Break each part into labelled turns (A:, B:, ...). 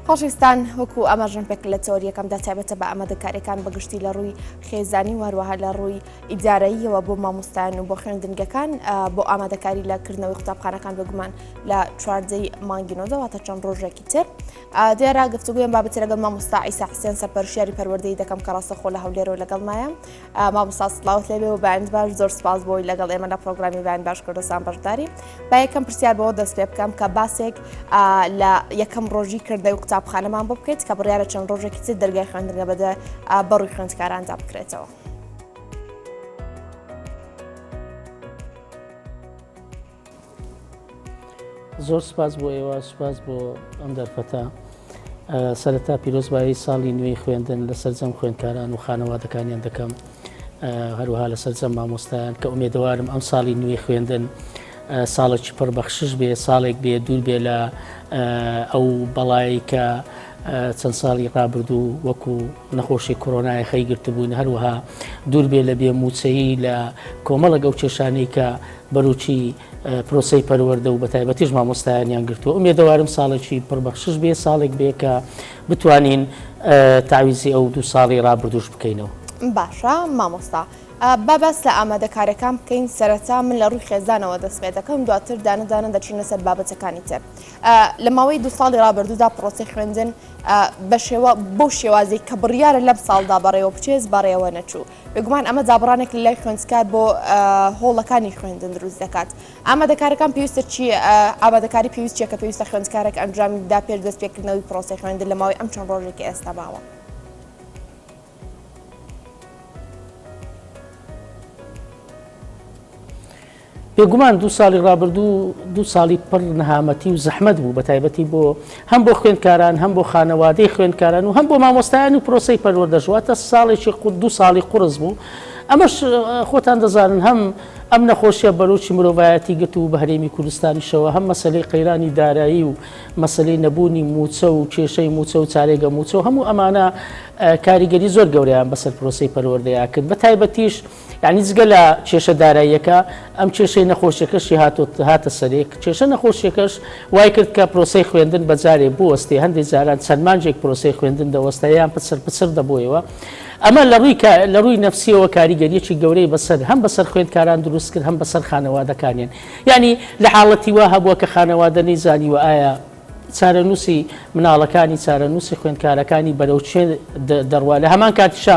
A: خۆشویستان وەکو ئاماژم پێک لە تۆریەکەمدا تایبەتە بە ئامادەکاریەکان بەگشتی لە ڕووی خێزانی و هەروەها لە ڕووی ئیدارەیەوە بۆ مامۆستایان و بۆ خوێندنگەکان بۆ ئامادەکاری لە کردنەوەی قوتابخانەکان بگومان لە چواردەی مانگینەوەدەواتە چەند ڕۆژێکی تر دیارە گفتوگویان بابەتی لەگەڵ مامۆستا ئیسا حسێن سەرپەرشیاری پەروەردەی دەکەم کە ڕاستەخۆ لە هەولێرەوە لەگەڵ مایە مامۆستا سڵاوت لێبێ و بەند باش زۆر سپاس بۆی لەگەڵ ئێمە لە پرۆگرامی بەند باش کوردستان بەشداری با یەکەم پرسیار بەوە دەست پێ بکەم کە باسێک لە یەکەم ڕۆژی کردە و قوتابخانەمان بۆ بکەیت کە بڕیارە چەند ڕۆژێکی تر دەرگای خوێندنگە بەدە بەڕووی خوێندکاراندا بکرێتەوە.
B: زۆر سپاس بۆ ئێوە سپاس بۆ ئەم دەرفەتە سەرەتا پیرۆزبایی ساڵی نوێی خوێندن لە سەررجەم خوێندکاران و خانەوادەکانیان دەکەم هەروها لە سەررجەم مامۆستایان کە ئومێدەوارم ئەم ساڵی نوێی خوێندن ساڵێکی پڕ بەخشش بێ ساڵێک بێ دوور بێ لە ئەو بەڵایی کە چەند ساڵی ڕابردوو وەکو نەخۆشی کۆرۆنای خەی گرتبووین هەروەها دوور بێ لە بێ موچەیی لە کۆمەڵە گەوچێشانی کە بەروچی پرۆسەی پەروەردە و بەتایبەتیش مامۆستایانیان گرتووە ئومێدەوارم ساڵێکی پڕبەخشش بێ ساڵێک بێ کە بتوانین تاویزی ئەو دوو ساڵی ڕابردوش بکەینەوە. باشە
A: مامۆستا با باس لە ئامادەکاریەکان بکەین سەرەتا من لە ڕووی خێزانەوە دەست پێ دەکەم دواتر دانە دانە دەچینە سەر بابەتەکانی تر لە ماوەی دوو ساڵی ڕابردوودا پرۆسی خوێندن بە شێوە بەو شێوازی کە بڕیارە لەم ساڵدا بەڕێوە بچێز بەڕێوە نەچوو بێگومان ئەمە دابڕانێک لە لای خوێندکار بۆ هۆڵەکانی خوێندن دروست دەکات ئامادەکارەکان پێویستە چی ئامادەکاری پێویست چیە کە پێویستە خوێندکارێک ئەنجامی دا پێش دەست پێکردنەوەی پرۆسی خوێندن لە ماوەی ئەم چەند ڕۆژێکی ئێستا باوە.
B: بێگومان دوو ساڵی ڕابردوو دوو ساڵی پڕ نەهامەتی و زەحمەت بوو بە تایبەتی بۆ هەم بۆ خوێندکاران هەم بۆ خانەوادەی خوێندکاران و هەم بۆ مامۆستایان و پرۆسەی پەروەردەش واتە ساڵێکی قوت دوو ساڵی قوڕس بوو ئەمەش خۆتان دەزانن هەم ئەم نەخۆشیە بەرۆکی مرۆڤایەتی گرت و بە هەرێمی کوردستانیشەوە هەم مەسلەی قەیرانی دارایی و مەسلەی نەبوونی موچە و کێشەی موچە و چارێگە موچە و هەموو ئەمانە کاریگەری زۆر گەوریان بەسەر پرۆسی پەروەردەیە کرد بە تایبەتیش یانی جگە لە کێشە داراییەکە، ئەم کێشەی نەخۆشیەکەشی هاتە سەرێ، کێشە نەخۆشیەکەش وای کرد کە پرۆسەی خوێندن بە جارێ بوەستێ، هەندێ جاران چەند مانگێک پرۆسەی خوێندن دەوەستا یان پچڕ پچڕ دەبۆیەوە، ئەمە لە ڕووی نەفسیەوە کاریگەریەکی گەورەی بەسەر هەم بەسەر خوێندکاران دروست کرد هەم بەسەر خانەوادەکانیان، یانی لە حاڵەتی وا هەبووە کە خانەوادە نەیزانیوە ئایا چارەنووسی مناڵەکانی چارەنووسی خوێندکارەکانی بەرەو کوێ دەڕوا، لە هەمان کاتیشا.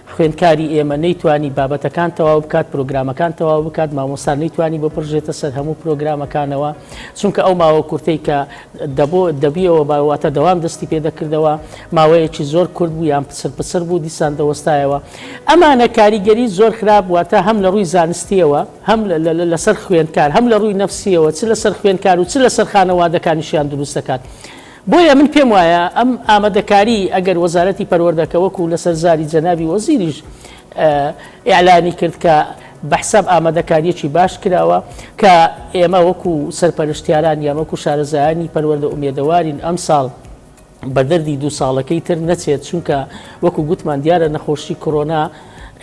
B: خوێندکاری ئێمە نەیتوانی بابەتەکان تەواو بکات، پرۆگرامەکان تەواو بکات، مامۆستا نەیتوانی بپڕژێتە سەر هەموو پرۆگرامەکانەوە، چونکە ئەو ماوە کورتەی کە دەبۆ دەبیەوە با واتە دەوام دەستی پێ دەکردەوە ماوەیەکی زۆر کورت بوو یان پچڕ پچڕ بوو دیسان دەوەستایەوە ئەمانە کاریگەری زۆر خراپ واتە هەم لە ڕووی زانستییەوە هەم لەسەر خوێندکار هەم لە ڕووی نەفسییەوە چ لەسەر خوێندکار و چ لەسەر خانەوادەکانیشیان دروست دەکات. بۆیە من پێم وایە ئەم ئامادەکاری ئەگەر وەزارەتی پەروەردە کە وەکو لەسەر زاری جەنابی وەزیریش ئیعلامی کرد کە بە حساب ئامادەکاریەکی باش کراوە کە ئێمە وەکو سەرپەرشتیاران یان وەکو شارەزایانی پەروەردە ئومێدەوارین ئەم ساڵ بە دەردی دوو ساڵەکەی تر نەچێت چونکە وەکو گوتمان دیارە نەخۆشی کۆرۆنا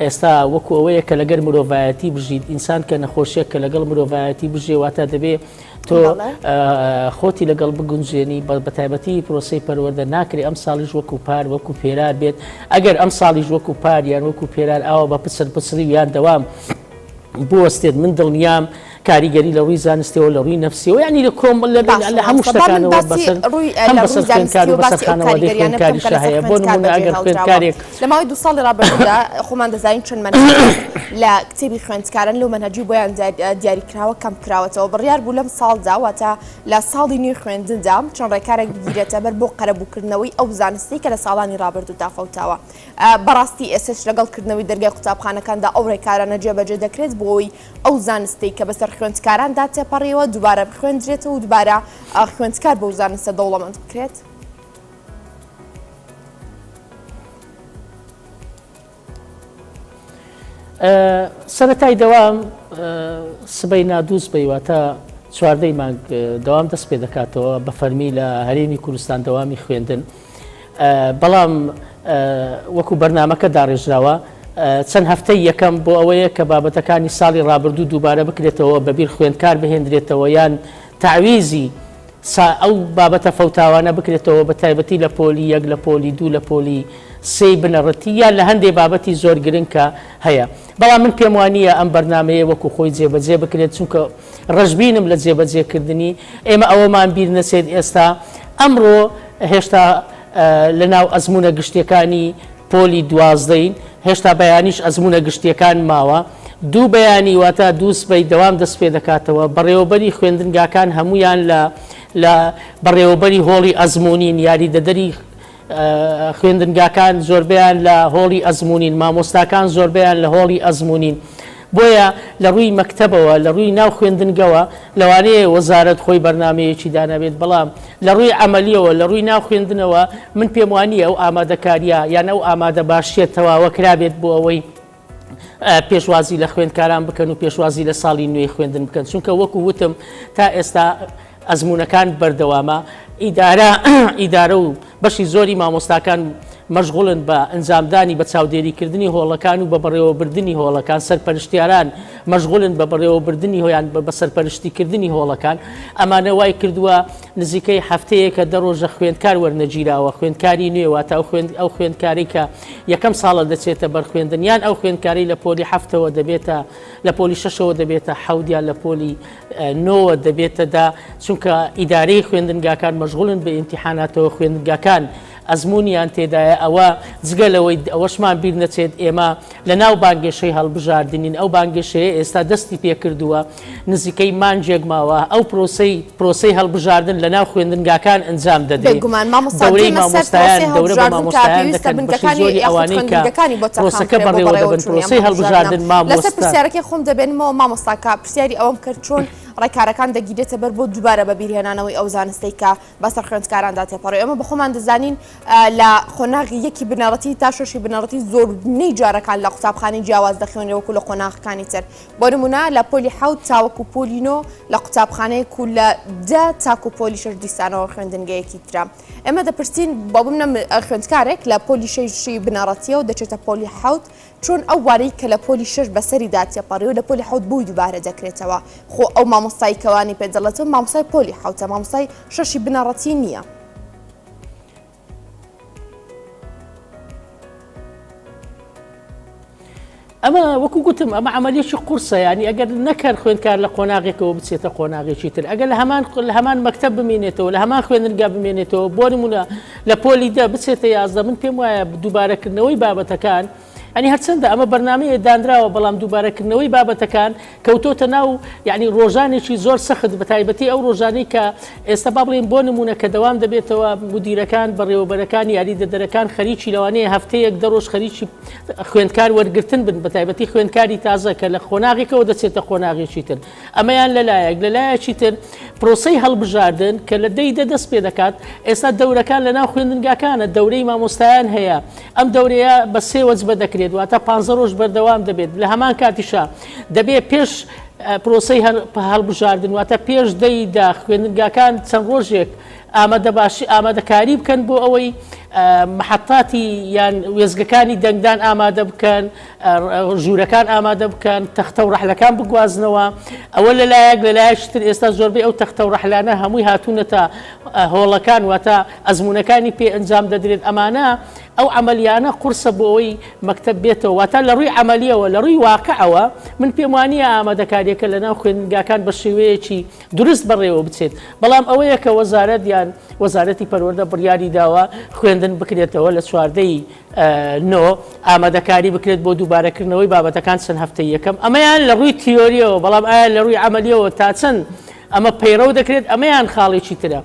B: ئێستا وەکو ئەوەیە کە لەگەر مرۆڤایەتی بژیت ئینسان کە نەخۆشیە کە لەگەڵ مرۆڤایەتی بژێواتە دەبێ تۆ خۆتی لەگەڵ بگونجێنی بە تایبەتی پرۆسی پەروەەردە ناکری ئەم ساڵیش وەکو پار وەکو پێرار بێت ئەگەر ئەم ساڵیش وەکو پار یان وەکو پێرار ئاوا بە پسر پسری یان دەوام بوەستێت من دڵنیام کاریگەری لە ڕووی زانستەوە لە ڕووی نفسیەوە ینی لە کۆم لە لە هەموو شتەکانەوە بەسەر بەسەرخانەوە دەخێنکاری شە هەیە بۆ نمونە ئەگەر خوێندکارێک لە ماوەی دوو ساڵی
A: ڕابردوودا خۆمان دەزانین چەند مەنهەج لە کتێبی خوێندکاران لەو مەنهەجی بۆیان دیاری کراوە کەم کراوەتەوە بڕیار بوو لەم ساڵدا واتە لە ساڵی نوێی خوێندندا چەند ڕێکارێک بگیرێتە بەر بۆ قەرەبووکردنەوەی ئەو زانستی کە لە ساڵانی ڕابردوودا فەوتاوە بەڕاستی ئێسش لەگەڵ کردنەوەی دەرگای قوتابخانەکاندا ئەو ڕێکارانە جێبەجێ دەکرێت بۆی ئەو زانستی کە بەسەر خوێندکاراندا تێپەڕیەوە دووبارە بخوێندرێتەوە و دووبارە خوێندکار بەو زانستە دەوڵەمەند بکرێت.
B: سەرەتای دەوام سبەی نادووس بەیواتە چواردەی مانگ دەوام دەست پێ دەکاتەوە بە فەرمی لە هەرێمی کوردستان دەوامی خوێندن بەڵام وەکو بەرنمەکە داڕێژراوە چەند هەفتەی یەکەم بۆ ئەوەیە کە بابەتەکانی ساڵی ڕابردوو دووبارە بکرێتەوە بەبییر خوێندکار بهێندرێتەوە یان تعویزی سا ئەو بابەتە فەوتاوانە بکرێتەوە بە تایبەتی لە پۆلی یەک لە پۆلی دوو لە پۆلی سێی بنەڕەتی یان لە هەندێ بابەتی زۆر گرنگ کە هەیە بەڵام من پێم وا نییە ئەم بەرنامەیە وەکو خۆی جێبەجێ بکرێت چونکە ڕەشبینم لە جێبەجێ کردنی ئێمە ئەوەمان بیر نەچێت ئێستا ئەمڕۆ هێشتا لە ناو ئەزموونە گشتییەکانی پۆلی دوازدەین، هێشتا بەیانیش ئەزموونە گشتییەکان ماوە. دوو بەیانی واتە دوو سبەی دەوام دەست پێ دەکاتەوە. بەڕێوەبەری خوێندنگاکان هەموویان لە لە بەڕێوەبەری هۆڵی ئەزموونین، یاریدەدەری خوێندنگاکان زۆربەیان لە هۆڵی ئەزموونین، مامۆستاکان زۆربەیان لە هۆڵی ئەزموونین. بۆیە لە ڕووی مەکتەبەوە، لە ڕووی ناو خوێندنگەوە، لەوانەیە وەزارەت خۆی بەرنامەیەکی دانابێت، بەڵام لە ڕووی عەمەلییەوە، لە ڕووی ناو خوێندنەوە، من پێم وا نییە ئەو ئامادەکارییە یان ئەو ئامادەباشییە تەواوە کرابێت بۆ ئەوەی پێشوازی لە خوێندکاران بکەن و پێشوازی لە ساڵی نوێی خوێندن بکەن، چونکە وەکو وتم تا ئێستا، ئەزموونەکان بەردەوامە، ئیدارە ئیدارە و بەشی زۆری مامۆستاکان مەشغوڵن بە ئەنجامدانی بە چاودێریکردنی هۆڵەکان و بە بەڕێوەبردنی هۆڵەکان، سەرپەرشتیاران مەشغوڵن بە بەڕێوەبردنی هۆیان بە سەرپەرشتیکردنی هۆڵەکان، ئەمانە وای کردووە نزیکەی هەفتەیەکە دە ڕۆژە خوێندکار وەرنەگیراوە، خوێندکاری نوێ واتە ئەو خوێندکارەی کە یەکەم ساڵە دەچێتە بەر خوێندن یان ئەو خوێندکارەی لە پۆلی هەفتەوە دەبێتە لە پۆلی شەشەوە دەبێتە حەوت یان لە پۆلی نۆوە دەبێتە دە، چونکە ئیدارەی خوێندنگاکان مەشغوڵن بە ئیمتیحاناتەوە، خوێندنگاکان ئەزموونیان تێدایە، ئەوە جگە لەوەی ئەوەشمان بیر نەچێت ئێمە لەناو بانگەشەی هەڵبژاردنین، ئەو بانگەشەیە ئێستا دەستی پێکردووە، نزیکەی مانگێک ماوە، ئەو پرۆسەی پرۆسەی هەڵبژاردن لەناو خوێندنگاکان ئەنجام دەدرێت، دەورەی مامۆستایان دەورە بە مامۆستایان دەکەن، بەشی زۆری ئەوانەی کە پرۆسەکە بەڕێوە دەبەن، پرۆسەی هەڵبژاردن مامۆستا.
A: پرسیاری ئەوەم کرد چۆن ڕێکارەکان دەگیرێتە بەر بۆ دووبارە بە بیرهێنانەوەی ئەو زانستەی کە بەسەر خوێندکاراندا تێپەڕی ئەمە بەخۆمان دەزانین لە خۆناغی یەکی بنەڕەتی تا شەشی بنەڕەتی زۆربنەی جارەکان لە قوتابخانی جیاواز دەخوێنێ وەکو لە قۆناغەکانی تر بۆ نمونە لە پۆلی حوت تاوەکو پۆلینۆ لە قوتابخانەیە کو لە دە تاکو پۆلی شش دیسانەوە خوێندنگەیەکی تررا ئێمە دەپرسین بۆ بمنە خوێندکارێک لە پۆلی شەشی بنەڕەتیەوە دەچێتە پۆلی حوت چۆن ئەو وانەی کە لە پۆلی شەش بەسەریدا تێپەڕی و لە پۆلی حەوت بۆی دووبارە دەکرێتەوە؟ خۆ ئەو مامۆستای کە وانەی پێ دەڵێتەوە مامۆستای پۆلی حەوتە، مامۆستای شەشی بنەڕەتی نییە.
B: ئەمە وەکو گوتم ئەمە عملیەکی قورسە ینی ئەگەر نەکەر خوێندکار لە قۆناغێکەوە بچێتە قۆناغێکی تر ئەگەر لە هەمان لە هەمان مەکتب بمێنێتەوە لە هەمان خوێنرگا بمێنێتەوە بۆ نمونە لە پۆلی دە بچێتە یازدە من پێم وایە دووبارەکردنەوەی بابەتەکان یانی هەرچەندە ئەمە بەرنامەیە دانراوە بەڵام دووبارەکردنەوەی بابەتەکان کەوتۆتە ناو یانی ڕۆژانێکی زۆر سەخت بە تایبەتی ئەو ڕۆژانەی کە ئێستا با بڵێن بۆ نمونە کە دەوام دەبێتەوە مدیرەکان بەڕێوەبەرەکان یاری دەدەرەکان خەریکی لەوانەیە هەفتەیەک دە ڕۆژ خەریکی خوێندکار وەرگتن بن بە تایبەتی خوێندکاری تازە کە لە قۆناغێکەوە دەچێتە قۆناغێکی تر ئەمەیان لە لایەک، لە لایەکی تر پرۆسەی هەڵبژاردن کە لە دەی دە دەست پێ دەکات، ئێستا دەورەکان لەناو خوێندنگاکانە، دەورەی مامۆستایان هەیە، ئەم دەورەیە بە سێ وەجبە دەکرێت، واتە پانزە رۆژ بەردەوام دەبێت، لە هەمان کاتیشا دەبێت پێش پرۆسەی هەڵبژاردن واتە پێش دەی دە خوێندنگاکان چەند رۆژێک ئامادەباشی ئامادەکاری بکەن بۆ ئەوەی محەتاتی یان وێزگەکانی دەنگدان ئامادە بکەن، ژوورەکان ئامادە بکەن تەختە و ڕەحلەکان بگوازنەوە ئەوە لە لایەک لە لایەکی تر ئێستا زۆربەی ئەو تەختە و ڕەحلانە هەمووی هاتوونەتە هۆڵەکان واتە ئەزمونونەکانی پێ ئەنجام دەدرێت ئەمانە ئەو عملیانە قورسە بۆ ئەوی مەکتب بێتەوە واتە لە ڕووی عملیەوە لە ڕووی واقعەوە من پێم وانە ئامادەکاریەکە لە ناو خوێندگاکان بە شێوەیەکی درست بەڕێوە بچێت بەڵام ئەوەیە کە وەزارەت یان وەزارەتی پەروەەردە بڕیاری داوە خوێندن بکرێتەوە لە چواردەی نۆ، ئامادەکاری بکرێت بۆ دووبارەکردنەوەی بابەتەکان چەند هەفتەییەکەم، ئەمەیان لە ڕووی تیۆرییەوە، بەڵام ئایا لە ڕووی عەمەلییەوە تا چەند ئەمە پەیڕەو دەکرێت، ئەمەیان خاڵێکی ترە.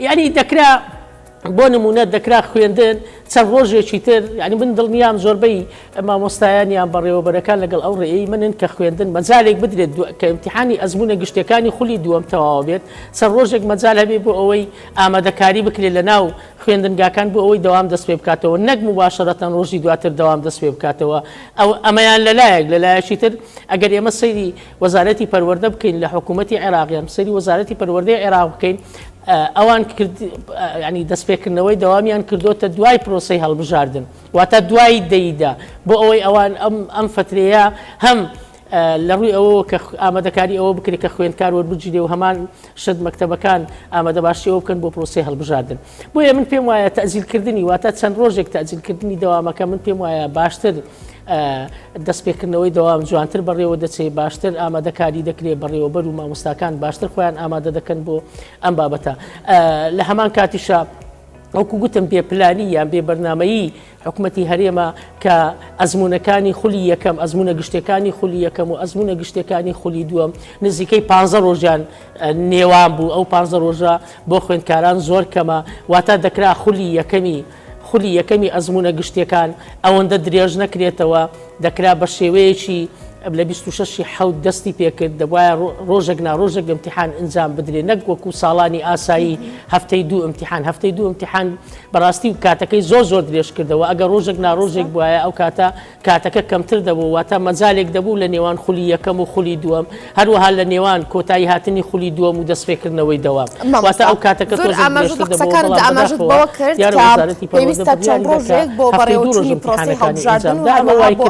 B: یانی دەکرا بۆ نموونە دەکرا خوێندن چەند ڕۆژێکی تر، یانی من دڵنیام زۆربەی مامۆستایان یان بەڕێوەبەرەکان لەگەڵ ئەو ڕێیەی منن کە خوێندن مەجالێک بدرێت کە ئیمتیحانی ئەزموونە گشتییەکانی خولی دووەم تەواو بێت، چەند ڕۆژێک مەجال هەبێت بۆ ئەوەی ئامادەکاری بکرێت لەناو خوێندنگاکان بۆ ئەوەی دەوام دەست پێ بکاتەوە نەک موباشەرەتەن ڕۆژی دواتر دەوام دەست پێ بکاتەوە ئەو ئەمەیان لەلایەک لەلایەکی تر ئەگەر ئێمە سەیری وەزارەتی پەروەردە بکەین لە حکوومەتتی عێراقیان سەری وەزارەتی پەروەردەی عێراق بکەین ئەوان کرد ینی دەستپێکردنەوەی دەوامیان کردوتە دوای پرۆسی هەڵبژاردن واتە دوای دەیدا بۆ ئەوەی ئەوان ئەم ئەم فترەیە هەم لە ڕووی ئەوەوە کە ئامادەکاری ئەوە بکرێت کە خوێندکار وەربگیرێ و هەمان شت مەکتەبەکان ئامادەباشی ئەوە بکەن بۆ پرۆسەی هەڵبژاردن بۆیە من پێم وایە تەزیلکردنی واتە چەند ڕۆژێک تەزیلکردنی دەوامەکە من پێم وایە باشتر دەستپێکردنەوەی دەوام جوانتر بەڕێوە دەچێت باشتر ئامادەکاری دەکرێت بەڕێوەبەر و مامۆستاکان باشتر خۆیان ئامادە دەکەن بۆ ئەم بابەتە لە هەمان کاتیشە وەکو گوتم بێ پلانی یان بێ بەرنمەیی حکومەتی هەرێمە کە ئەزموونەکانی خولی یەکەم ئەزمونە گشتەکانی خولی یەکەم و ئەزمونە گشتەکانی خولی دووەم نزیکەی پ ڕۆژیان نێوان بوو ئەو پ ڕۆژە بۆ خوێندکاران زۆر کەمە واتا دەکرا خولی یەکەمی خولی یەکەمی ئەزمونە گشتەکان ئەوەندە درێژ نەکرێتەوە دەکرا بە شێوەیەکی لە 26 حەوت دەستی پێکرد دەبواە ڕۆژێک ناڕۆژێک امتحان ئنجام بدرێ نەک وەکو ساڵانی ئاسایی هەفتەی دوو امتحان هەفتەی دوو امتحان بەڕاستی کاتەکەی زۆر زۆر درێژ کردەوە ئەگەر ڕۆژێک ناڕۆژێک بواە ئەو کاتە کاتەکە کەمتر دەبوو واتە مەجالێک دەبوو لە نێوان خولی یەکەم و خولی دووەم هەروەها لە نێوان کۆتایی هاتنی خولی دووەم و دەستپێکردنەوەی دەوام واتە ئەو کاتەکە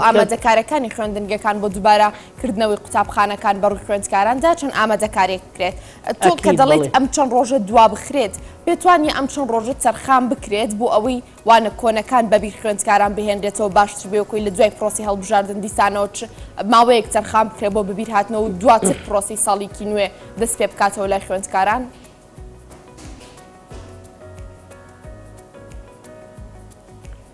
A: ئامادەکارەکانی خوێندنگەکان بۆ دووبارە کردنەوەی قوتابخانەکان بەڕووی خوێندکاراندا چەند ئامادەکارێک بکرێت تۆ کە دەڵێت ئەم چەند ڕۆژە دوا بخرێت پێتوانیە ئەم چەند ڕۆژە تەرخان بکرێت بۆ ئەوەی وانە کۆنەکان بە بیر خوێندکاران بهێنرێتەوە باشتر بێ وەکۆی لە دوای پرۆسی هەڵبژاردن دیسانەوە چ ماوەیەک تەرخان بکرێت بۆ بەبیر هاتنەوە و دواتر پرۆسی ساڵیکی نوێ دەست پێ بکاتەوە لای خوێندکاران.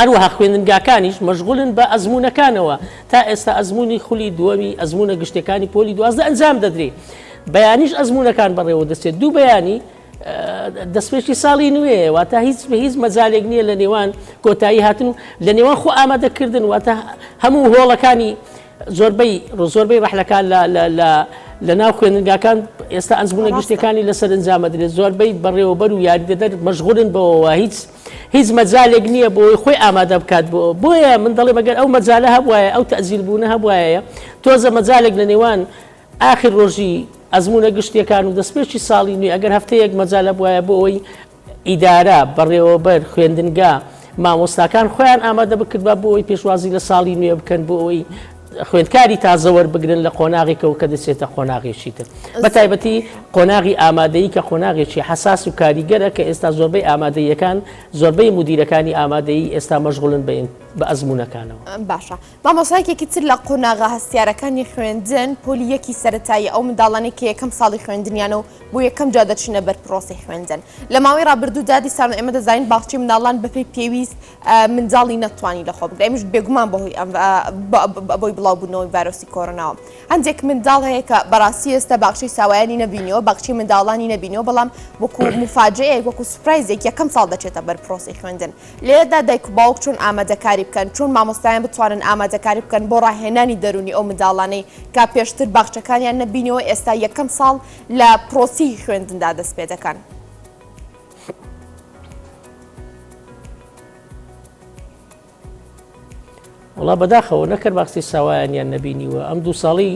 B: هەروەها خوێندنگاکانیش مەشغولن بە ئەزموونەکانەوە، تا ئێستا ئەزموونی خولی دووەمی ئەزموونە گشتیەکانی پۆلی دوازدە ئەنجام دەدرێ، بەیانیش ئەزموونەکان بەڕێوە دەچێت، دوو بەیانی دەستپێکی ساڵی نوێیە، واتە هیچ بە هیچ مەجالێک نییە لە نێوان کۆتایی هاتن و لە نێوان خۆ ئامادەکردن، واتە هەموو هۆڵەکانی زۆربەی زۆربەی ڕەحلەکان لە ناو خوێندنگاکان ئێستا ئەزموونە گشتیەکانی لە سەرنجامەدرێت، زۆربەی بەڕێوەبەر و یاریدەدەر مەشغولن بەوەوە هیچ هیچ مەجالێک نییە بۆ ئەوەی خۆی ئامادە بکات بۆ ئەوە. بۆیە من دەڵێم ئەگەر ئەو مەجالە هەبوایە، ئەو تەئجیلبوونە هەبوایە، تۆزە مەجالێک لە نێوان ئاخر ڕۆژی ئەزموونە گشتییەکان و دەستپێکی ساڵی نوێ ئەگەر هەفتەیەک مەجال هەبوایە بۆ ئەوەی ئیدارە، بەڕێوەبەر، خوێندنگا، مامۆستاکان خۆیان ئامادە بکردبا بۆ ئەوەی پێشوازی لە ساڵی نوێ بکەن بۆ ئەوەی خوێندکاری تازە وەربگرن لە قۆناغێکەوە کە دەچێتە قۆناغێکی تر بە تایبەتی قۆناغی ئامادەیی کە قۆناغێکی حساس و کاریگەرە کە ئێستا زۆربەی ئامادەیەکان زۆربەی مدیرەکانی ئامادەیی ئێستا مەشغولن بە بە ئەزمونونەکانەوە باشە
A: مامۆسایکێکی تر لە قۆناغا هەستیارەکانی خوێندن پۆلی یەکی سەتایی ئەو منداڵانی کە یەکەم ساڵی خوێندنیان و بۆ یەکەم جا دەچینە بەر پرۆسی خوێندن لە ماوەی رابردوودا دیسان ئێمە دەزانین باخچی مناڵان بەپی پێویست منداڵی نەتتوانی لەخۆ بگرێ ئەمیش بێگومان بەهۆی ئەم بۆی بڵاوبوونەوەی ڤایرۆسی کۆرۆناوە هەندێک منداڵ هەیە کە بەڕاستی ئێستا باخشی ساوایانی نەبینیەوە باخچی منداڵانی نەبینەوە بەڵام وەکو مفاجەیەک وەکو سوپرایزێک یەکەم ساڵ دەچێتە بەر پرۆسی خوێندن لێدا دایک و باوک چۆن ئامادەکاری بکەن چۆن مامۆستایان بتوانن ئامادەکاری بکەن بۆ ڕاهێنانی دەرونی ئەو منداڵانەی کا پێشتر باخچەکانیان نەبینەوە ئێستا یەکەم ساڵ لە پرۆسی خوێندندا دەست پێ دەکەن.
B: وڵا بەداخەوە نەکرد باقسی ساوایانیان نەبینیوە ئەم دوو ساڵی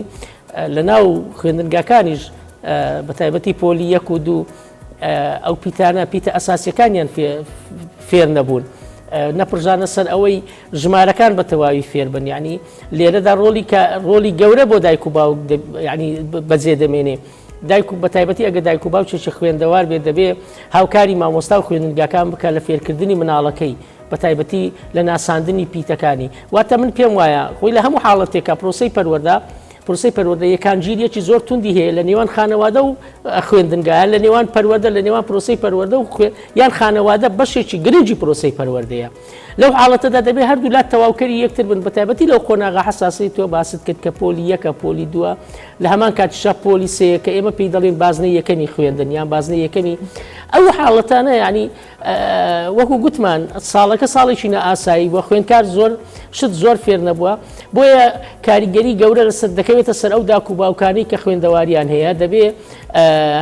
B: لە ناو خوێندنگاکانیش بە تایبەتی پۆلی یەک و دوو ئەو پیتانە پیتە ئەساسیەکانیان فێر نەبوون. نەپرژانە سەر ئەوەی ژمارەکان بە تەواوی فێربن ینی لێرەدا ڕۆلی ڕۆلی گەورە بۆ دایک و باوک ینی بەجێ دەمێنێ دایک و بەتایبەتی ئەگە دایک و باوچێکی خوێندەوار بێت دەبێ هاوکاری مامۆستا و خوێندنگاکان بکە لە فێرکردنی مناڵەکەی بەتایبەتی لە ناساندنی پیتەکانی واتە من پێم وایە خۆی لە هەموو حاڵەتێکە پرۆسی پەروەدا پرسی پەروەدە یەکان گیریەکی زۆر توندی هەیە لە نێوان خانەوادە و خوێندنگایان لە نێوان پەروەدە لە نێوان پرۆسی پەروەدە و خوێن یان خانەوادە بەشێکی گرنگی پرۆسی پەروەردەیە لەو حاڵەتەدا دەبێت هەردوو لا تەواوکەری یەکتر بن بەتایبەتی لەو قۆناغە حساسەی تۆ باست کرد کە پۆلی یەکە پۆلی دووە لە هەمان کاتیشا پۆلی سەیە کە ئێمە پێی دەڵین بازنەی یەکەمی خوێندن یان بازنە یەکەمی ئەو حاڵەتانە ینی وەکو گوتمان ساڵەکە ساڵێکی نائاسایی بووە خوێندکار زۆر شت زۆر فێر نەبووە بۆیە کاریگەری گەورە لەسەر دەکەوێتە سەر ئەو داکو باوکانی کە خوێندەواریان هەیە دەبێ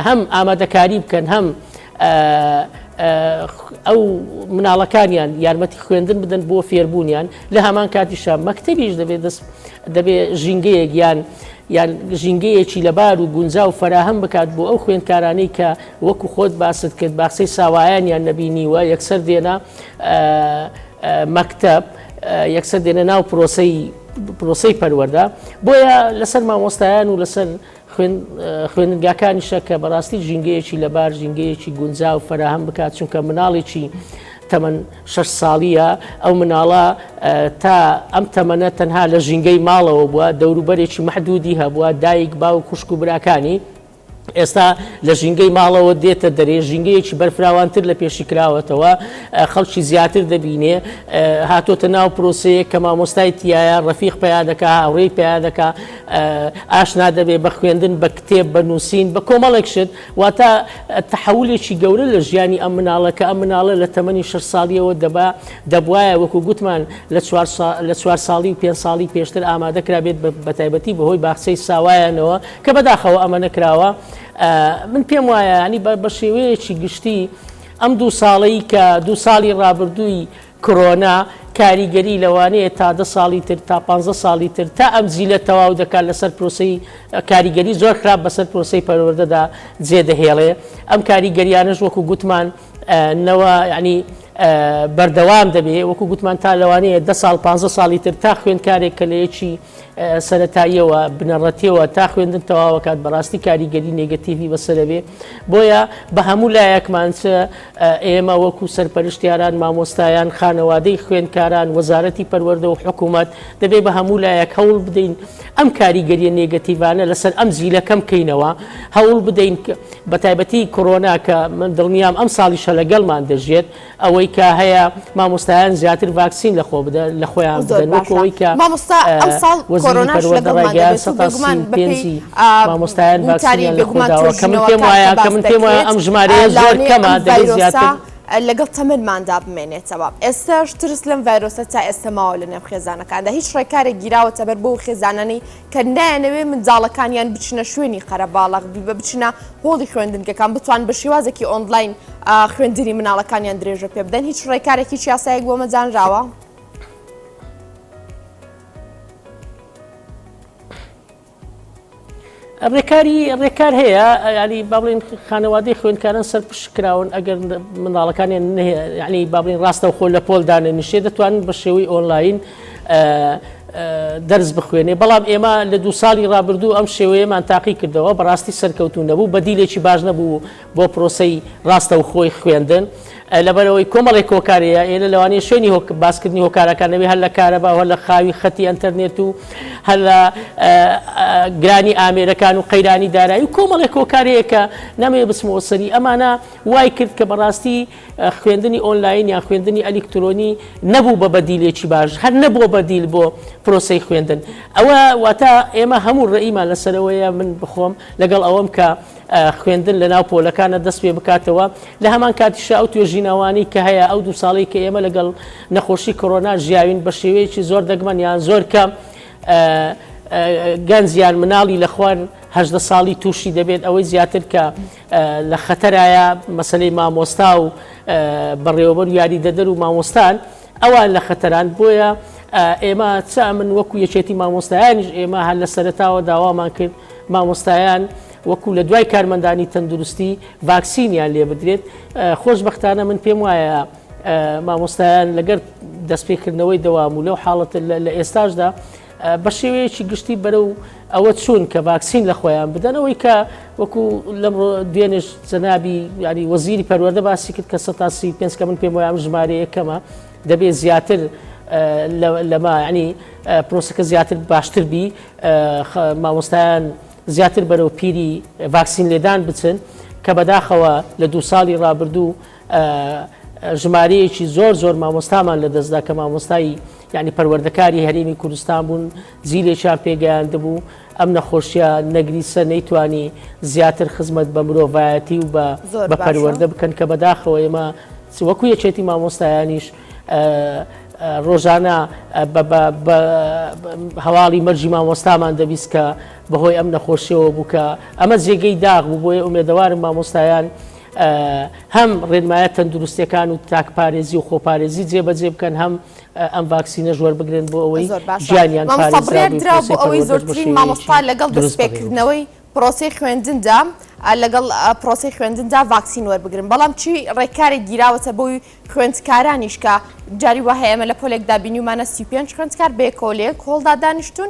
B: هەم ئامادەکاری بکەن هەم ئە و مناڵەکانیان یارمەتی خوێندن بدەن بۆ فێربوونیان لە هەمان کاتیشە مەکتتەبیش دەبێت دەست دەبێ ژینگەیەک یان یان ژینگەیەکی لەبار و گونجا و فراهەم بکات بۆ ئەو خوێندکارانەی کە وەکو خۆت باست کرد باخسەی ساوایانیان نەبینیوە یەکسەر دێنە مەکتب یەکسەر دێنە ناو پرۆسی پرۆسی پەروەەردە بۆیە لەسەر مامۆستایان و لەسەر خوێندنگاکانیشە کە بەڕاستی ژینگەیەکی لەبار ژینگەیەکی گونجا و فەراهەم بکات چونکە مناڵێکی تەمەەن شش ساڵیە ئەو مناڵە تا ئەم تەمەنە تەنها لە ژینگەی ماڵەوە بووە دەوروبەرێکی محدودی هەبووە دایک با و خوشک و براکانی ئێستا لە ژینگەی ماڵەوە دێتە دەرێ ژینگەیەکی بەرفراوانتر لە پێشی کراوەتەوە خەڵکی زیاتر دەبینێ هاتۆتە ناو پرۆسەیە کە مامۆستای تایە ڕفیق پیا دەکە هاوڕێی پیا دەکە ئاشنا دەبێت بە خوێندن، بە کتێب، بە نووسین، بە کۆمەڵێک شت، واتە تەحەولێکی گەورە لە ژیانی ئەم مناڵە کە ئەم مناڵە لە تەمەنی شەش ساڵییەوە دەبا دەبوایە وەکو گوتمان لە چوار لە چوار ساڵی و پێنج ساڵی پێشتر ئامادە کرابێت بە تایبەتی بەهۆی باخچەی ساوایانەوە کە بەداخەوە ئەمە نەکراوە من پێم وایە ینی بە شێوەیەکی گشتی ئەم دوو ساڵی کە دوو ساڵی ڕابردووی کڕۆنا کاریگەری لەوانەیە تا دە ساڵی تر تا پانزە ساڵی تر تا ئەم جیلە تەواو دەکات لەسەر پرۆسەی کاریگەری زۆر خراپ بەسەر پرۆسەی پەروەردەدا جێ دەهێڵێ ئەم کاریگەریانەش وەکو گوتمان نەوە ینی بەردەوام دەبێ وەکو گوتمان تا لەوانەیە دە ساڵ پانزە ساڵی تر تا خوێندکارێک کە لەیەکی سەرەتاییەوە بنەڕەتیەوە تا خوێندن تەواوەکات بەڕاستی کاریگەری نێگەتیڤی بەسەرەبێ بۆیە بە هەموو لایەکمان چ ئێمە وەکو سەرپەرشتیاران مامۆستایان خانەوادەی خوێندکاران وەزارەتی پەروەەردە و حکوومەت دەبێ بە هەموو لایەک هەوڵ بدەین ئەم کاریگەریە نێگەتیڤانە لەسەر ئەم زیلەکەم کەینەوە هەوڵ بدەین بە تایبەتی کۆرۆنا کە من دڵنیام ئەم ساڵیشە لەگەڵمان دەژێت ئەوەی کە هەیە مامۆستایان زیاتر ڤاکسین لە خۆ بدە لە خۆیان بدەن وەکو ئەوەی کە مامۆستا ئەمساڵ وەزیری
A: پەروەردە ڕایگەیاند سەتا سی و پێنج
B: مامۆستایان ڤاکسینیان لە خۆ داوە کە من پێم وایە کە من پێم وایە ئەم ژمارەیە زۆر کەمە دەبێت زیاتر لەگەڵ
A: تەمەنماندا بمێنێتەوە ئێستاش ترس لەم ڤایرۆسە تا ئێستە ماوە لە نێو خێزانەکاندا هیچ ڕێکارێک گیراوەتە بەر بۆ خێزانانی کە نایانەوێ منداڵەکانیان بچنە شوێنی قەرەباڵەغ بیبە بچنە هۆڵی خوێندنگەکان بتوان بە شێوازێکی ئۆنلاین خوێندنی مناڵەکانیان درێژە پێ بدەن هیچ ڕێکارێکی چیاسایەک بۆ مەزانراوە.
B: ڕێکاری ڕێکار هەیە ینی باڵین خانەوادەی خوێندکاران سەر پشت کراون ئەگەر مناڵەکانیان ینی باڵین ڕاستە خۆ لە پۆلدانە نیشێ دەتوانن بە شێوەی ئۆنلاین دەرس بخوێنێ بەڵام ئێمە لە دو ساڵی رابردوو ئەم شێوەیەمان تاقی کردەوە بەڕاستی سەرکەوتون نەبوو بەدیلێکی باش نەبوو بۆ پرۆسی راستە و خۆی خوێندن لەبەرەوەی کۆمەڵی کۆکارەیە ئێرە لەوانەیە شوێنی باسکردنی هۆکارەکانەوەی هەر لە کارەبا هەر لە خاوی خەتی ئەتەرنێت و هەر لە گرانی ئامێرەکان و قەیرانی دارایی و کۆمەڵێک کۆکارەیە کە نەمەوێ بسمەوە سەری ئەمانە وای کرد کە بەڕاستی خوێندنی ئۆنلاین یان خوێندنی ئەلیکترۆنی نەبوو بە بەدیلێکی باش، هەر نەبووە بەدیل بۆ پرۆسەی خوێندن. ئەوە واتە ئێمە هەموو ڕێیمان لەسەرەوەیە، من بخۆم لەگەڵ ئەوەم کە خوێندن لەناو پۆلەکانە دەست پێ بکاتەوە، لە هەمان کاتیشا ئەو توێژینەوانەی کە هەیە، ئەو دوو ساڵەی کە ئێمە لەگەڵ نەخۆشی کۆرۆنا ژیاوین بە شێوەیەکی زۆر دەگمەن یان زۆر کەم گەنج یان مناڵی لە خوار هەژدە ساڵی تووشی دەبێت، ئەوەی زیاتر کە لە خەتەرایە مەسەلەی مامۆستا و بەڕێوەبەر و یاریدەدەر و مامۆستان ئەوان لە خەتەران بۆیە ئێمە چا من وەکو یەکێتی مامۆستایانیش ئێمە هەر لە سەرتاوە داوامان کرد مامۆستایان وەکو لە دوای کارمەندانی تەندروستی ڤاکسینیان لێ بدرێت خۆشببختانە من پێم وایە مامۆستایان لەگەر دەستپێکردنەوەی دەوام و لەو حاڵەت لە ئێستاشدا بە شێوەیەکی گشتی بەرەو ئەوە چوون کە ڤاکسین لە خۆیان بدەن ئەوەی کە وەکو لەم دوێنش جەنابی ینی وەزیری پەروەەردە باسی کرد کە 135 کە من پێم وایام ژمارەیە کەمە دەبێت زیاتر لەما ینی پرۆسەکە زیاتر باشتر بی مامۆستایان زیاتر بەرەو پیری ڤاکسین لێدان بچن کە بەداخەوە لە دو ساڵی ڕابردوو ژمارەیەکی زۆر زۆر مامۆستامان لەدەستدا کە مامۆستایی یعنی پەروەردەکاری هەرێمی کوردستان بوون جیلێکیان پێگەیاندبوو ئەم نەخۆشیە نەگریسە نەیتوانی زیاتر خزمەت بە مرۆڤایەتی و بە بە پەروەەردە بکەن کە بەداخەوە ئێمە وەکو یەکێتی مامۆستایانیش ڕۆژانە هەواڵی مەرجی مامۆستامان دەبیست کە بەهۆی ئەم نەخۆشیەوە بووکە ئەمە جێگەی داغ بوو بۆیە ئومێدەوارم مامۆستایان هەم ڕێنمایە تەندروستەکان و تاک پارێزی و خۆپارێزی جێبەجێ بکەن هەم ئەم ڤاکسینە ژوەر بگرن بۆ ئەوەی ژیانیان ئەوەی
A: زۆرترین مامۆستا لەگەڵ دەستپێکردنەوەی پرۆسی خوێندندا لەگەڵ پرۆسی خوێندندا ڤاکسین وەربگرن بەڵام چی ڕێکارێک گیراوەتە بۆی خوێندکارانیشکە جاری وهەیە ئەمە لە پۆلێکدا بینیمانە سی پێنج خوێندکار بێکۆلێک کۆڵدا دانیشتون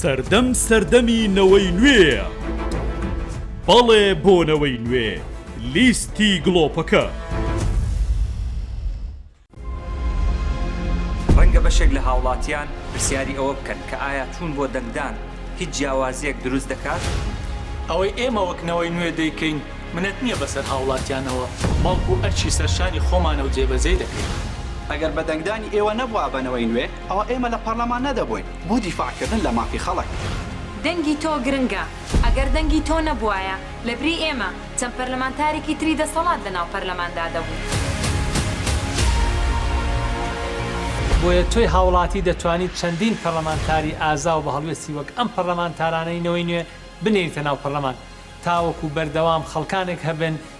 C: سەردەم سەردەمی نەوەی نوێیە بەڵێ بۆ نەوەی نوێ لیستی گڵۆپەکە.
D: ڕەنگە بەشێک لە هاوڵاتیان پرسیاری ئەوە بکەن کە ئایا چوون بۆ دەنگدان هیچ جیاوازیەک دروست دەکات؟ ئەوەی
E: ئێمە وەک نەوەی نوێ دەیکەین منەت نیە بەسەر هاوڵاتیانەوە بەڵکو ئەرکی سەرشانی خۆمانەو جێبەجێی دەکەین. ئەگەر بە
F: دەنگدانی ئێوە نەبوابە نەوەی نوێ، ئەوا ئێمە لە پەرلەمان نەدەبووین بۆ دیفاع کردن لە مافی خەڵک. دەنگی تۆ
G: گرنگە، ئەگەر دەنگی تۆ نەبوایە لە بری ئێمە چەند پەرلەمانتارێکی تری دەسەڵات لە ناو پەرلەماندا دەبوو.
E: بۆیە تۆی هاوڵاتی دەتوانیت چەندین پەرلەمانتاری ئازا و بە هەڵوێستی وەک ئەم پەرلەمانتارانەی نەوەی نوێ بنێریتە ناو پەرلەمان تاوەکو بەردەوام خەڵکانێک هەبن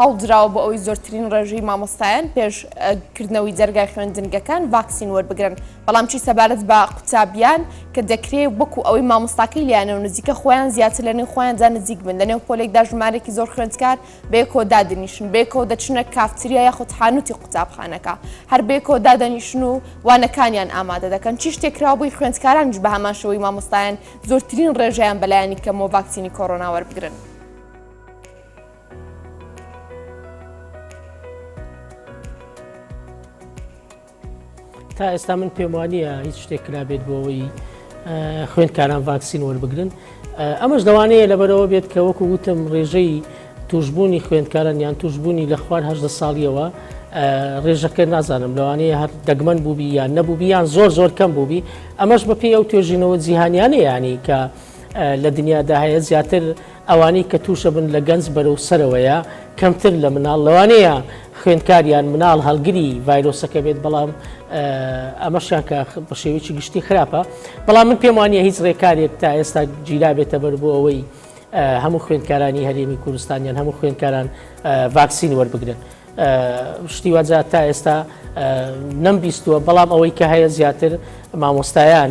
A: هەوڵدراوە بۆ ئەوەی زۆرترین ڕێژەی مامۆستایان پێش کردنەوەی دەرگای خوێندنگەکان ڤاکسین وەربگرن، بەڵام چی سەبارەت بە قوتابیان کە دەکرێ وەکو ئەوەی مامۆستاکەی لێیانە و نزیکە خۆیان زیاتر لە نێو خۆیاندا نزیک بن، لە نێو پۆلێکدا ژمارێکی زۆر خوێندکار بەیەکەوە دادەنیشن، بەیەکەوە دەچنە کافتریا یاخود حانوتی قوتابخانەکە هەر بەیەکەوە دادەنیشن و وانەکانیان ئامادە دەکەن، چی شتێک کراوە بۆی خوێندکارانیش بە هەمان شێوەی مامۆستایان زۆرترین ڕێژەیان بە لایەنی کەمەوە ڤاکسینی کۆرۆنا وەربگرن؟
B: تا ئێستا من پێم وانە هیچ شتێک کرابێت بۆ ئەوەی خوێندکاران ڤاکسین وەربگرن ئەمەش دەوانەیە لەبەرەوە بێت کە وەکو وتم ڕێژەی توشببوونی خوێندکاران یان توشببوونی لە خوارهدە ساڵیەوە ڕێژەکە نازانم لەوانەیە هەر دەگمەن بووبی یان نەبووبی یان زۆر زۆر کەم بووبی ئەمەش بەپی ئەو توێژینەوە جیهانیانە ینی کە لە دنیادا هەیە زیاتر ئەوانەی کە تووشە بن لە گەنج بەرەو سەرەوەیە کەمتر لە مناڵ، لەوانەیە خوێندکار یان مناڵ هەڵگری ڤایرۆسەکە بێت، بەڵام ئەمەشیان کە بە شێوەیەکی گشتی خراپە، بەڵام من پێم وانە هیچ ڕێکارێک تا ئێستا گیرابێتە بەر بۆ ئەوەی هەموو خوێندکارانی هەرێمی کوردستان یان هەموو خوێندکاران ڤاکسین وەربگرن. شتی واجا تا ئێستا نەمبیستووە بەڵام ئەوەی کە هەیە زیاتر مامۆستایان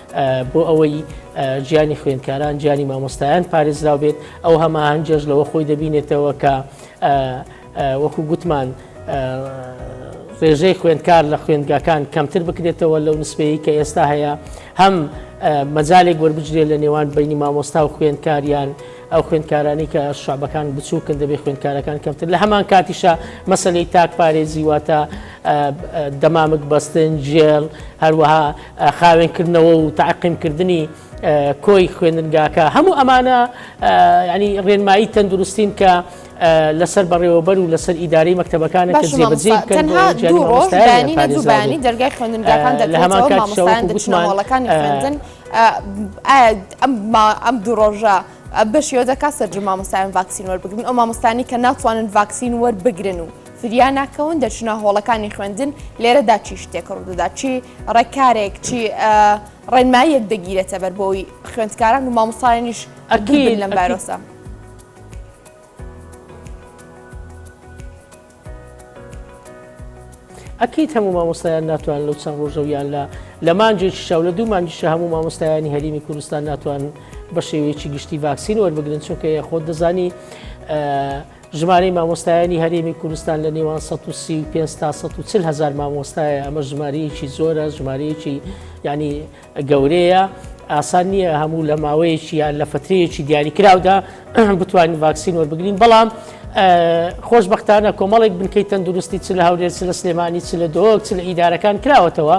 B: بۆ ئەوەی گیانی خوێندکاران گیانی مامۆستایان پارێزراو بێت ئەو هەماهنگێش لەوە خۆی دەبینێتەوە کە وەکو گوتمان ڕێژەی خوێندکار لە خوێندگاکان کەمتر بکرێتەوە لەو نسبەیە کە ئێستا هەیە هەم مەجالێک وەربجرێت لە نێوان بینی مامۆستا و خوێندکاریان ئەو خوێندکارانی کە شعبەکان بچووکن دەبێت خوێندکارەکان کەمتر لە هەمان کاتیشە مەسلەی تاک پارێزی واتە دەمامک بەستن جێڵ هەروەها خاوێن کردنەوە و تەعقیم کردنی کۆی خوێندنگاکە هەموو ئەمانە ینی ڕێنمایی تەندروستین کە لەسەر بەڕێوەبەر و لەسەر ئیداری مەکتتەبەکانی دەرگای
A: خوێندنگاکان لە هەمان کاتشەوەڵەکانی خوێندن ئەم دوو ڕۆژە. بەشیەوە دەکات سەرجە مامۆستایان ڤاکسین وەربگرن ئەو مامۆستانی کە ناتوانن ڤاکسین وەربگرن و فریا ناکەون دەچنە هۆڵەکانی خوێندن، لێرەدا چی شتێک ڕوودەدات، چی ڕێکارێک، چی ڕێنماییەک دەگیرێتە بەر بۆی خوێندکاران و مامۆستایانیش ئەگیرن لەم بارۆسە.
B: ئەکییت هەموو مامۆستایان ناتوان لەو چەند ڕۆژەویان لە لە مانجێکی شاو لە دوو مانجیشە هەموو مامۆستایانی هەرمی کوردستان ناتوان بە شێوەیەکی گشتی ڤاکسین وەربگرن چونکە یە خۆت دەزانی ژمارەی مامۆستایانی هەرێمی کوردستان لە نێوان 135 تا 140 هزار مامۆستایە ئەمە ژمارەیەکی زۆرە ژمارەیەکی ینی گەورەیە ئاسان نییە هەموو لە ماوەیەکی یان لە فترەیەکی دیاریکراودا بتوانین ڤاکسین وەربگرین بەڵام خۆشببختانە کۆمەڵێک بنکەی تەندروستی چ لە هاورێت چ لە سلێمانی چ لە دۆک چ لە ئیدارەکان کراوەتەوە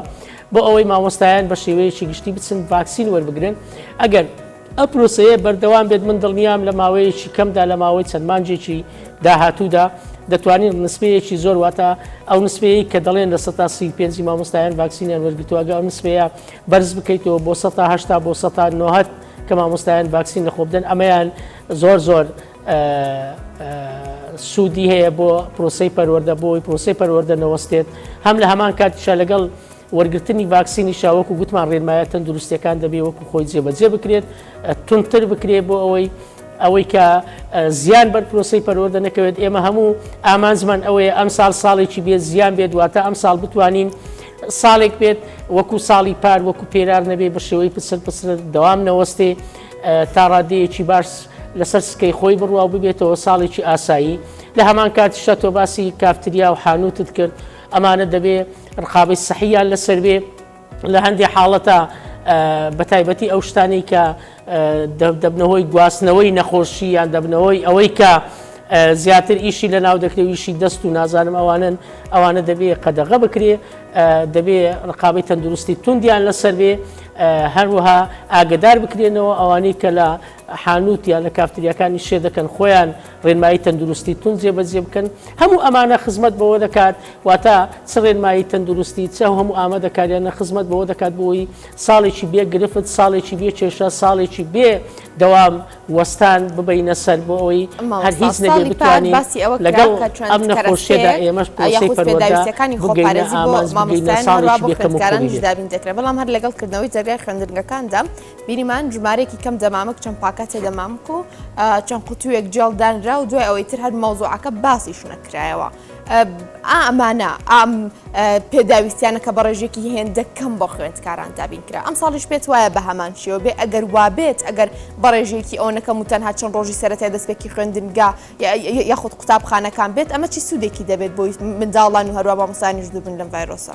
B: بۆ ئەوەی مامۆستایان بە شێوەیەکی گشتی بچن ڤاکسین وەربگرن ئەگەر ئە پرۆسەیە بەردەوام بێت من دڵنیام لە ماوەیەکی کەمدا لە ماوەی چەند مانجێکی داهاتوودا دەتوانین نسبەیەکی زۆر واتە ئەو نسبەیە کە دەڵێن لە سە سی پێنج مامۆستایان ڤاکسینیان وەرگتوواگە ئەو نسبەیە بەرز بکەیتەوە بۆ سە هشتا بۆ سە نهت کە مامۆستایان ڤاکسین لە خۆبدەن ئەمەیان زۆر زۆر سوودی هەیە بۆ پرۆسی پەروەەردە بۆی پرۆسی پەروەەردە نەوەستێت هەم لە هەمان کاتیشە لەگەڵ وەرگرتنی ڤاکسینیشە وەکو گوتمان رێنمایە تەندروستیەکان دەبێ وەکو خۆی جێبەجێ بکرێت تونتر بکرێت بۆ ئەوەی ئەوەی کە زیان بەر پرۆسی پەروەەردە نەکەوێت ئێمە هەموو ئامانجمان ئەوەیە ئەم ساڵ ساڵێکی بێت زیان بێت واتە ئەم ساڵ بتوانین ساڵێک بێت وەکو ساڵی پار وەکو پێرار نەبێ بە شێوەی پسر پسر دەوام نەوەستێ تا ڕادەیەکی باش لەسەر سکەی خۆی بڕوا ببێتەوە ساڵێکی ئاسایی لە هەمان کاتیشە تۆ باسی کافتریا و حانوتت کرد ئەمانە دەبێ ڕقابەی سەحیان لەسەر بێ لە هەندێک حاڵەتە بە تایبەتی ئەو شتانی کە دەبنەوەی گواستنەوەی نەخۆشی یان دەبنەوەی ئەوەی کە زیاتر ئیشی لە ناو دەکرێویشی دەست و نازانم ئەوانن ئەوانە دەبێ قەدەغە بکرێ دەبێ ڕقابی تەندروستی توندیان لەسەر بێ هەروەها ئاگدار بکرێنەوە ئەوانەی کە لە حانوت یا لە کافتریاکانی شێ دەکەن خۆیان ڕێنمایی تەندروستی توند جێبەجێ بکەن، هەموو ئەمانە خزمەت بەوە دەکات، واتە چ ڕێنمایی تەندروستی، چ ئەو هەموو ئامادەکارییانە خزمەت بەوە دەکات بۆی ساڵێکی بێ گرفت، ساڵێکی بێ کێشە، ساڵێکی بێ دەوام وەستان ببەینە سەر بۆ ئەوەی هەر هیچ نەبێ بتوانین لەگەڵ ئەم نەخۆشیەدا ئێمەش پرۆسەی پەروەردە بگەینە ئامانج،
A: بگەینە ساڵێکی بێ کەموکوڕی بێت. بینیمان ژمارەیەکی کەم دەمامک چەند پاکەتێ دەمامک و چەند قوتوویەک جێڵ دانرا و دوای ئەوەی تر هەر مەوزوعەکە باسی شونەکرایەوە ئامانە ئام پێداویستیانە کە بە ڕێژێکی هێندە کەم بۆ خوێندکاران دابین کرا ئەم ساڵیش پێت وایە بە هەمان شێوە بێ ئەگەر وابێت ئەگەر بە ڕێژێکی ئەو نەکەم و تەنها چەند ڕۆژی سەرەتای دەستپێکی خوێندنگا یاخود قوتابخانەکان بێت ئەمە چی سوودێکی دەبێت بۆی منداڵان و هەروە بە مسانیش دووبن لەم ڤایرۆسە.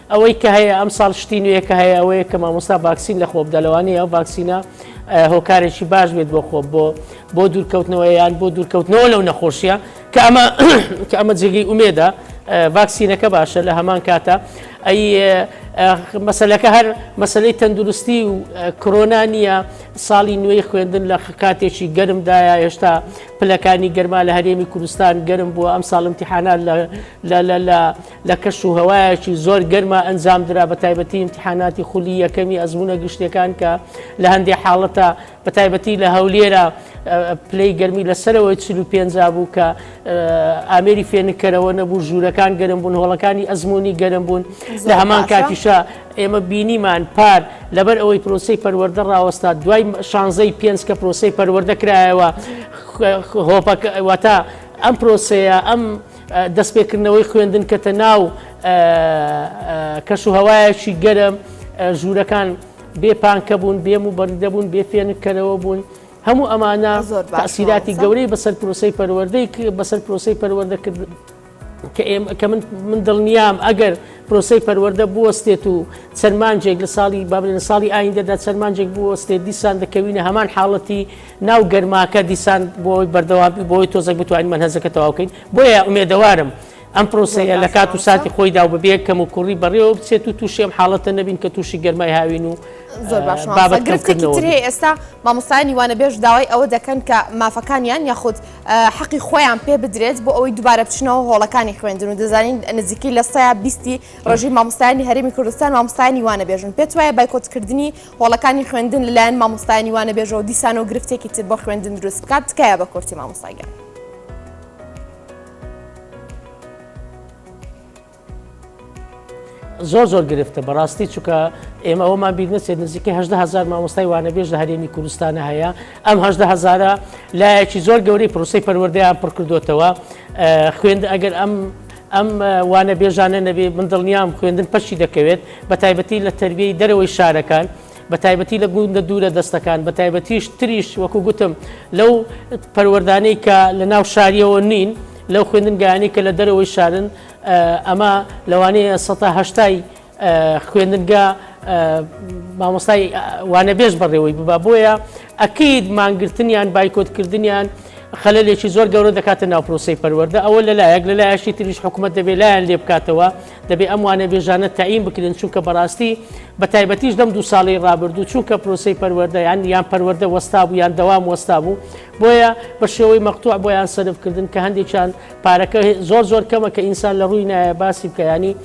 B: ئەوەی کە هەیە ئەمساڵ شتی نوێ کە هەیە ئەوەیە کە مامۆستا ڤاکسین لە خۆ بدە لەوانەیە ئەو ڤاکسینە هۆکارێکی باش بێت بۆ خۆ بۆ بۆ دوورکەوتنەوە یان بۆ دوورکەوتنەوە لەو نەخۆشیە کە ئەمە کە ئەمە جێگەی ئومێدا ڤاکسینەکە باشە لە هەمان کاتە ئەی مەسلەکە هەر مەسلەی تەندروستی و کرۆنا نییە ساڵی نوێی خوێندن لە کاتێکی گەرمدایە هێشتا پلەکانی گەرما لە هەرێمی کوردستان گەرم بووە ئەم ساڵمتیحانان لە لە کەش و هەوایەکی زۆر گەرما ئەنجام درا بە تایبەتی ئیمتیحاناتی خولی یەکەمی ئەزموونە گشتیەکان کە لە هەندێ حاڵەتە بە تایبەتی لە هەولێرە پلەی گەرمی لە سەرەوەی چل و پێنج بوو کە ئامێری فێنکەرەوە نەبوو ژوورەکان گەرم بوون هۆڵەکانی ئەزمموی گەرم بوون لە هەمان کاتیشە ئێمە بینیمان پار لەبەر ئەوەی پرۆسی پەروەەردە ڕاوەستا دوای شانزەی پێنج کە پرۆسی پەروەەردە کرایەوە هۆپەکەواتە ئەم پرۆسەیە ئەم دەستپێکردنەوەی خوێندن کەتە ناو کەش و هەوایەکی گەرم ژوورەکان بێ پانکە بوون بێم و بەردەبوون بێ فێنکەرەوە بوون هەموو ئەمانە تاسیراتی گەورەی بەسەر پرۆسی پەروەردەی بەسەر پرۆسی پەروەردەکردن کە من من دڵنیام ئەگەر پرۆسی پەروەەردە بوەستێت و سەرمانجێک لە ساڵی بابلێن ساڵی ئایندەدا سەرمانجێک بوەستێت دیسان دەکەوینە هەمان حاڵەتی ناو گەرماکە دیسان بۆ ئەوەی بەردەوام بۆ ئەوەی تۆزەک بتوانین مەنهەجەکە تەواو بکەین بۆیە ئومێدەوارم ئەم پرۆسەیە لە کات و ساتی خۆیدا و بەبێ کەم و کوڕی بەڕێوە بچێت و تووشی ئەم حاڵەتە نەبین کە تووشی گەرمای هاوین و زۆر باش مامۆستا. بابەت
A: گرفتێکی کەمکردنەوە تر بین. هەیە ئێستا مامۆستایانی وانەبێژ داوای ئەوە دەکەن کە مافەکانیان یاخود اه، حەقی خۆیان پێ بدرێت بۆ ئەوەی دووبارە بچنەوە هۆڵەکانی خوێندن و دەزانین نزیکەی لە سەیا بیستی ڕێژەی مامۆستایانی هەرێمی کوردستان مامۆستایانی وانەبێژن پێت وایە بایکۆتکردنی هۆڵەکانی خوێندن لەلایەن مامۆستایانی وانە بێژەوە دیسانەوە گرفتێکی تر بۆ خوێندن دروست بکات تکایە بە کورتی مامۆستاگەن.
B: زۆر زۆر گرفتە بەڕاستی چکە ئێمە ئەومان بیر نەچێت نزیکە هزار مامۆستای وانەبێژ لە هەرێمی کوردستانە هەیە ئەم هزارە لایەکی زۆر گەورەی پرۆسی پەروەردەیان پڕکردوتەوە خوێند ئەگەر ئەم ئەم وانەبێژانە نەبێ من دڵنیام خوێندن پەشی دەکەوێت بەتایبەتی لە تەربیەی دەرەوەی شارەکان بەتایبەتی لە گوندە دوورە دەستەکان بەتایبەتیش تریش وەکو گوتم لەو پەروەردانەی کە لە ناو شاریەوە نین لەو خوێندنگایانی کە لە دەرەوەی شارن ئەمە لەوانەیە سەهشتای خوێندنگە مامۆستای وانەبێژ بەڕێوەی ببا بۆیە ئەکید مانگرتنیان بایکۆت کردنیان خەلێکی زۆر گەورە دەکاتە ناو پرۆسی پەروەەردە ئەوە لە لایەک لە لایەشی تریش حکوومەت دەبێت لایەن لێ بکاتەوە دەبێ ئەم وانە بێژانە تایم بکرێن چونکە بەڕاستی بە تایبەتیش دەم دو ساڵی ڕابردوو چونکە پرۆسی پەروەەردە یان یان پەروەەردە وەستا بوو یان دەوام وەستا بوو بۆیە بە شێوەی مەقتوع بۆیان سەرفکردن کە هەندێکیان پارەکە زۆر زۆر کەمە کە ئینسان لە ڕووی نایە باسی بکەیانی